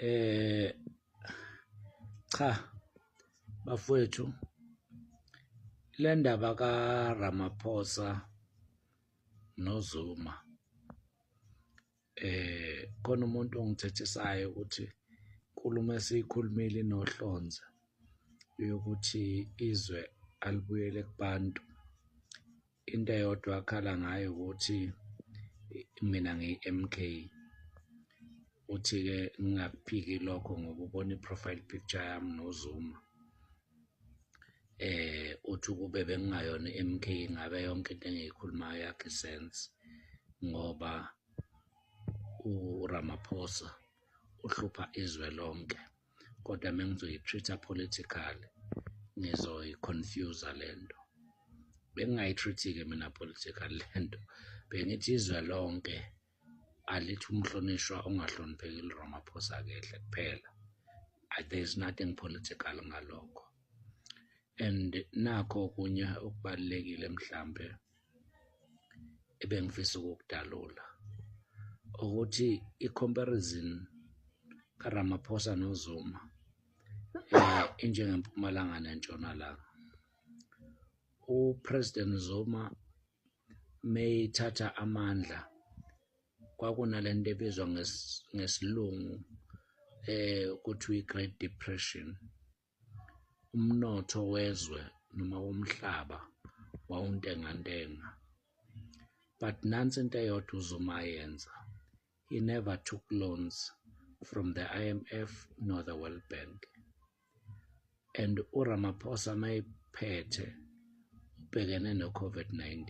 eh cha bafowethu le ndaba kaRamaphosa noZuma eh khona umuntu ongithethisayo ukuthi inkulumo esiyikhulumile inohlonze yokuthi izwe alibuyele kubantu Into eyodwa akhala ngayo ukuthi mina ngiyi-MK uthi-ke ngingakuphiki lokho ngoba ubona i-profile picture yami noZuma eh uthi ukube bengingayona i-MK ngabe yonke into engiyikhulumayo yakhe sense ngoba uRamaphosa uhlupha izwe lonke kodwa mengizoyi-treat-a politically ngizoyi-confuse-a le nto bengingayi-treat-ke mina political le nto bengithi izwe lonke alithi umhlonishwa ongahlonipheki liramaphosa kehle kuphela there is nothing political ngalokho and nakho okunye okubalulekile mhlambe ebengifisa ukukudalula ukuthi i-comparison kaRamaphosa noZuma eh injengempumalanga nentshonalanga uPresident Zuma meyithatha amandla kwakunalento ebizwa ngesilungu eh kuthiwa i-Great Depression umnotho wezwe noma womhlaba wawuntengantenga but nansi into eyodwa uZuma ayenza he never took loans from the IMF nor the World Bank and uRamaphosa mayephethe ubhekene no-COVID-19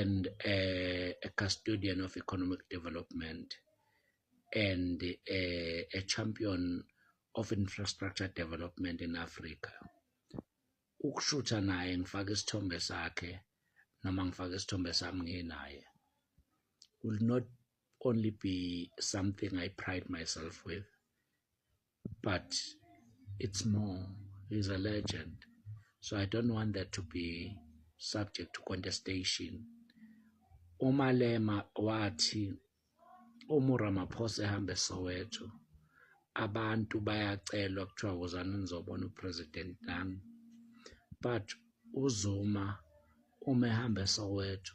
and uh, a custodian of economic development and uh, a champion of infrastructure development in Africa ukushutha naye ngifake isithombe sakhe noma ngifake isithombe sami nginaye will not only be something I pride myself with but it's more he's a legend so i don't want that to be subject to contestation umalema wathi uma uramaphosa ehambe soweto abantu bayacelwa kuthiwa wozani nizobona upresident nami but uzuma uma ehamba esoweto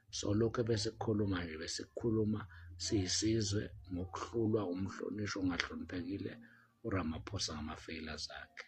solokhu besikhuluma nje besikhuluma siyisizwe ngokuhlulwa umhlonishwa ongahloniphekile uRamaphosa ngama-failures akhe.